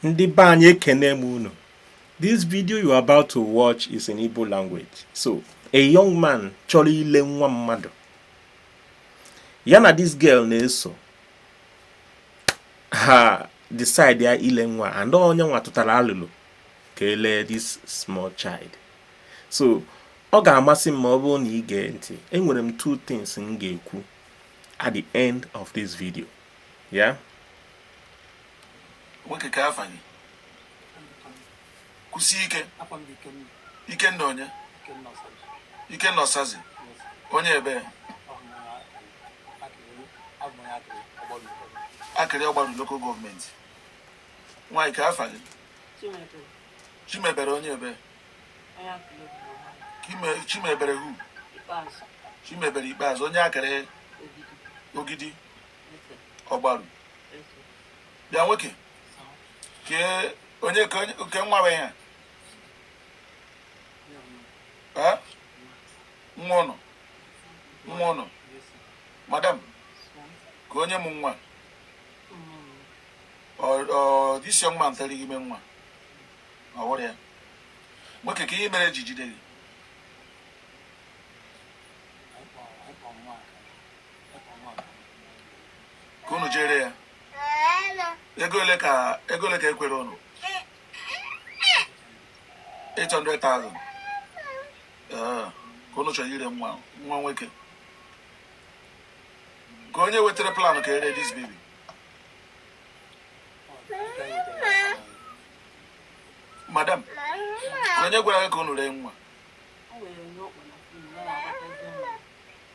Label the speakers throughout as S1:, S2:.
S1: Ndị be anyị ekene m unu. This video you are about to watch is in Igbo language. So, a young man chọrọ ile nwa mmadụ. Ya na this girl na-eso. Ha decide ya ile nwa and ọ nya nwa tụtara alụlụ ka e lee this small child. So, ọ ga-amasị m ma ọ bụrụ na ị gee ntị. Enwere m two things m ga-ekwu at the end of this video. Yeah? Nwoke kee afa gị? Kwusie ike. Ikenna onye? Ikenna Ọsazi. Onye ebee? Akịrị Ọgbaru Local Government. Nwaanyị kee afa gị? Chimebere onye ebee? Chimebere who? Chimebere Ikpeazụ onye Akịrị Ogidi. ọgbaru bịa nwoke kee onye ke nwa bụ ihe nwa unu nwa unu madam kee onye mụ nwa ọ dịsi nwatara gị ime nwa ọ wụrụ ya nwoke kee ihe mere e ji jide gị ka unu je-ere ya ego ole ka ego ole ka e kwere unu 800,000 ee ka unu chọrọ ire nwa nwa nwoke kee onye wetara plan ka e ree this baby madam onye gwara gị ka unu ree nwa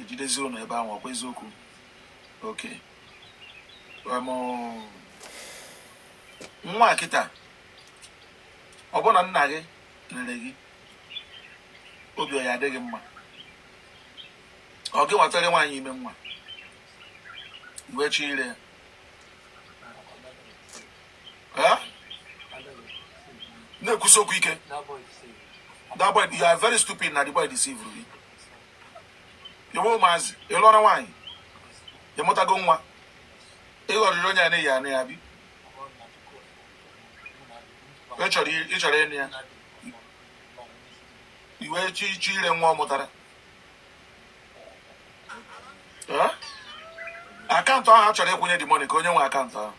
S1: E jidezie unu ebe ahụ ọ kwa eziokwu okay ngwa kịta ọ bụrụ na nna gị rere gị obi ọ ya-adị gị mma ọ gị nwatara nwaanyị ime nwa i wee chọ ire ya na-ekwusi okwu ike that boy you are very stupid na the boy deceive you i nwe ụmụazị ị lụọra nwaanyị ị mụtago nwa ị ghọrịrị onye a na-eyi anụ ya bi ị chọrọ ịnụ ya i wee chọ ị chọ ire nwa ọ mụtara account ahụ a chọrọ ịkwụnye the money kee onye nwe account ahụ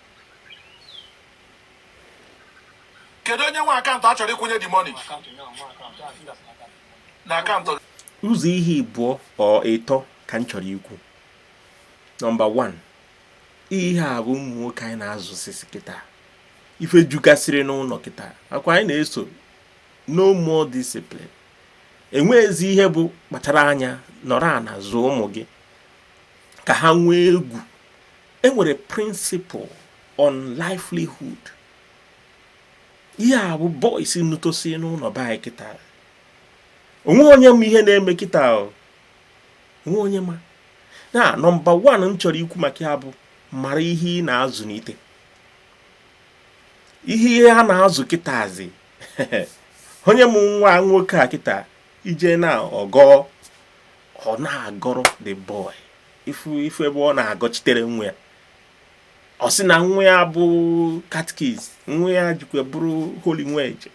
S1: kedu onye nwe account a chọrọ ịkwụnye the money na akaụntụ gị ụzọ ihe ịbụọ or ịtọ ka m chọrọ ikwu nọmba 1 ihe a bụ ụmụ nwoke anyị na-azụsisi kịta ife jukasịrị n'ụnọ kịta akwa anyị na-eso no more discipline enweghịzi ihe bụ kpachara anya nọrọ ana zụọ ụmụ gị ka ha nwee egwu enwere principle on livelihood ihe a bụ boys nnutosi n'ụnọ be anyị kịta o nwe onye ma ihe na-eme kịta o nwe onye ma na nọmba wan m chọrọ ikwu maka ya bụ mara ihe ị na-azụnite ihe ihe a na-azụ kịtazi onye mụ nwa nwoke a kịta i je na ọgọ ọ na-agọrọ the boy ị fụ ebe ọ na-agọchitere nwa ya ọ sị na nwa ya bụ catechist nwa ya jikwa bụrụ holy nweje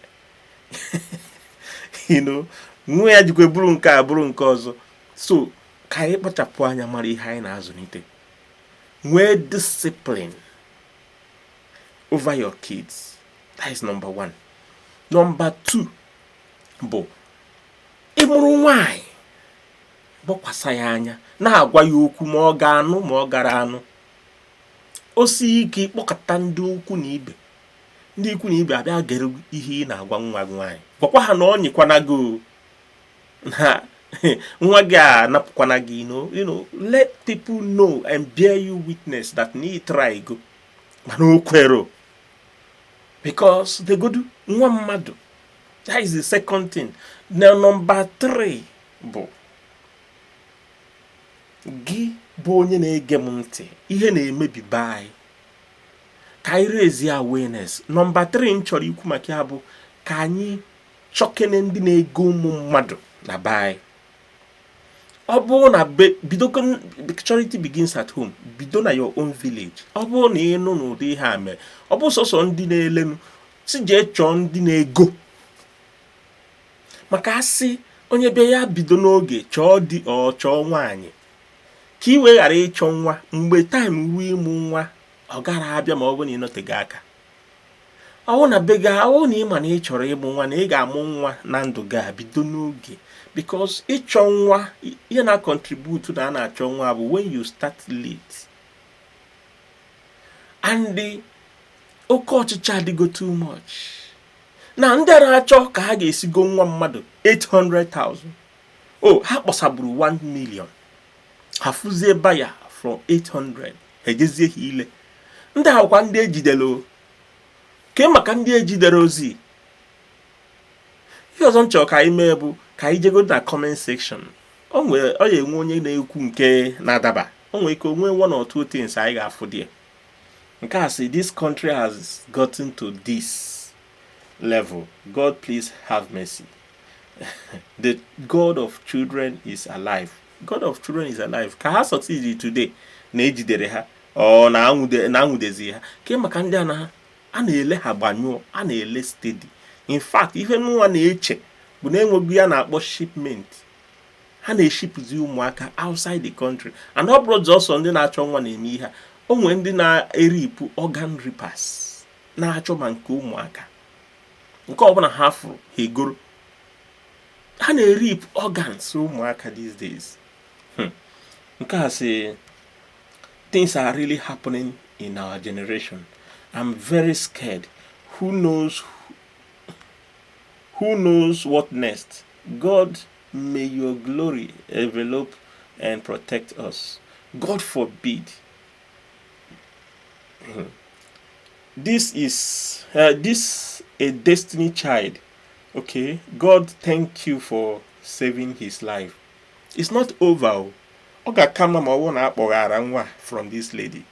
S1: nwa ya jikwa bụrụ nke a bụrụ nke ọzọ so ka anyị kpachapụ anya mara ihe anyị na-azụnite nwee discipline over your kids that is number one number two bụ ị mụrụ nwaanyị gbakwasa ya anya na-agwa ya okwu ma ọ ga-anụ ma ọ gara anụ o sie ike ị kpọkọta ndị ukwu na ibe ndị ikwu na ibe abịa gere ihe ị na-agwa nwa gị nwaanyị gwakwa ha na ọ nyekwana gị na nwa gị a napụkwana gị ino you know let people know and bear you witness that na ị trygo mana o kwero because e godu nwa mmadụ that is the second thing na number three bụ gị bụ onye na-ege m ntị ihe na-emebi be anyị ka anyị raise awareness nọmba 3 m chọrọ ikwu maka ya bụ ka anyị chọkene ndị na-ego ụmụ mmadụ na be anyị ọ bụrụ na bido charity begins at home bido na your own village ọ bụrụ na ị nụ na ụdị ihe a mere ọ bụ sọsọ ndị na-elenu si jee chọọ ndị na-ego maka a sị onye bịa ya bido n'oge chọọ di or chọọ nwaanyị ka ị wee ghara ịchọ nwa mgbe time ruo ịmụ nwa ọ gara abịa ma ọ bụ na ị nọtego aka ọ wụ na be gị ọ wụ na ị ma na ị chọrọ ịmụ nwa na ị ga-amụ nwa na ndụ gị a bido n'oge because ịchọ nwa ihe na-acontribute na a na-achọ nwa bụ when you start late and oke ọchịchọ adịgo too much na ndị a na-achọ ka ha ga-esi go nwa mmadụ 800,000 o ha kpọsaburu 1 million ha fụzie buyer from 800 ejezie ha ile ndị a bụkwa ndị ejidere ke maka ndị ejiderọzi ihe ọzọ m chọrọ ka anyị mee bụ ka anyị jego na comment section ọ ya enwe onye na-ekwu nke na-adaba o nwere ike o nwee one or two things anyị ga-afụ there nke a sị this country has gotten to this level god please have mercy the god of children is alive god of children is alive ka ha succeed today na ejidere ha or na anwụdezi ha ke maka ndị ana a na-ele ha gbanyụọ a na-ele steady in fact ihe m nwa na-eche bụ na enwego ihe a na-akpọ shipment ha na-eshipụzi ụmụaka outside the country and ọ bụrọzi sọ ndị na-achọ nwa na-eme ihe a o nwere ndị na-erip organ rippers na-achọ ma nke ụmụaka nke ọbụla ha fụrụ ha egoro ha na-erip organs ụmụaka these days hmm. nke a sị things are really happening in our generation i'm very scared who knows who knows what next God may your glory envelope and protect us. God forbid. Hmm. This is uh, this a destiny child. Okay, God thank you for saving his life. It's not over o. Ọ ga-aka mma ma ọ bụrụ na a kpọghara nwa from this lady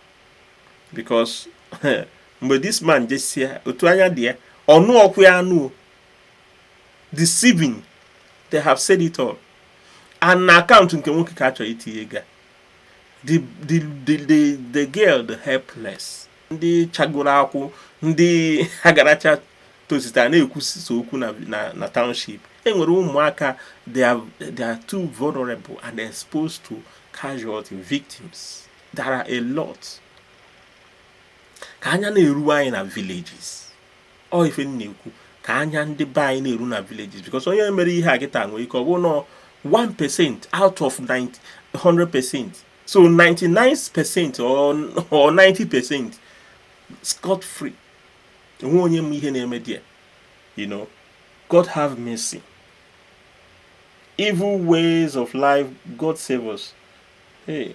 S1: because mgbe this man jesịa otu anya dị ya ọ nụọkwa ya anụ deceiving they have said it all and na account nke nwoke ka a chọrọ itinye ego the the the the girl the helpless ndị chagoro akwụ ndị agaracha tozita na-ekwusisa okwu na na township enwere ụmụaka they are they are too vulnerable and exposed to casualty victims there are a lot ka anya na-eru anyị na villages ọ ife m na-ekwu ka anya ndị be anyị na-eru na villages because onye mere ihe a kịta nwere ike ọ bụrụ na 1 percent out of 100 percent so 99 percent or 90 percent scot free enwe onye ma ihe na-eme there you know God have mercy evil ways of life God save us hey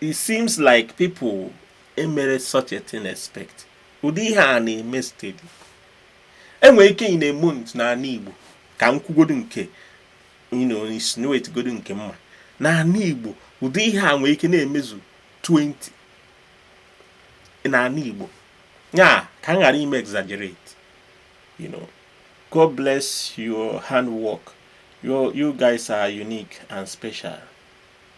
S1: It seems like people emere such a thing expect. Ụdị ihe a na-eme steady. Enwere ike in a month n'ala Igbo ka m kwugodu nke insinuate godu nke m ma n'ala Igbo ụdị ihe a nwere ike na-emezu 20 n'ala Igbo ya ka m ghara ime exaggerate you know God bless your handwork you, you guys are unique and special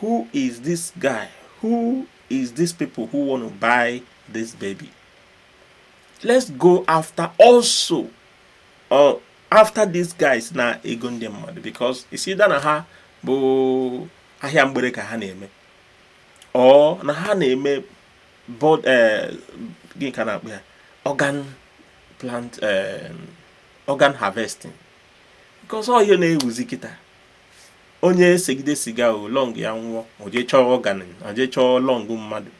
S1: Who is this guy? Who is these people who want to buy this baby? Let's go after also or after these guys na-ego ndị mmadụ because is either na ha bụ ahịa mgbere ka ha na-eme or na ha na-eme bod eh, gịnị ka a na-akpọ ya organ plant eh, organ harvesting because ọ ihe na-ewuzi kịta onye segide siga lung ya nwụọ o jee chọọ organ o jee chọọ lung mmadụ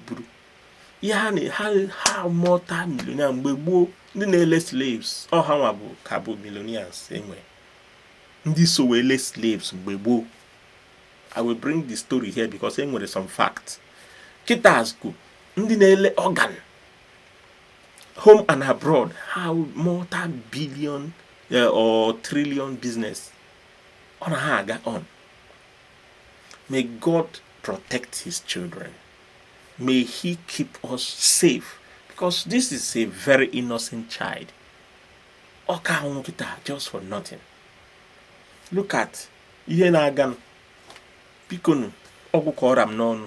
S1: buru ihe ha na ha ha multi millionaire mgbe gboo ndị na-ele slaves ọ hanwa bụ ka bụ millionaires e nwere ndị so wee le slaves mgbe gboo i will bring the story here because e nwere some fact kịtazị ọ ndị na-ele organ home and abroad ha multi billion eh, or trillion business ọ na ha aga on may god protect his children may he keep us safe because this is a very innocent child ọ ka anwụ kịta just for nothing look at ihe na-aganụ bikonu ọ gwụ ka ọ ra m n'ọnụ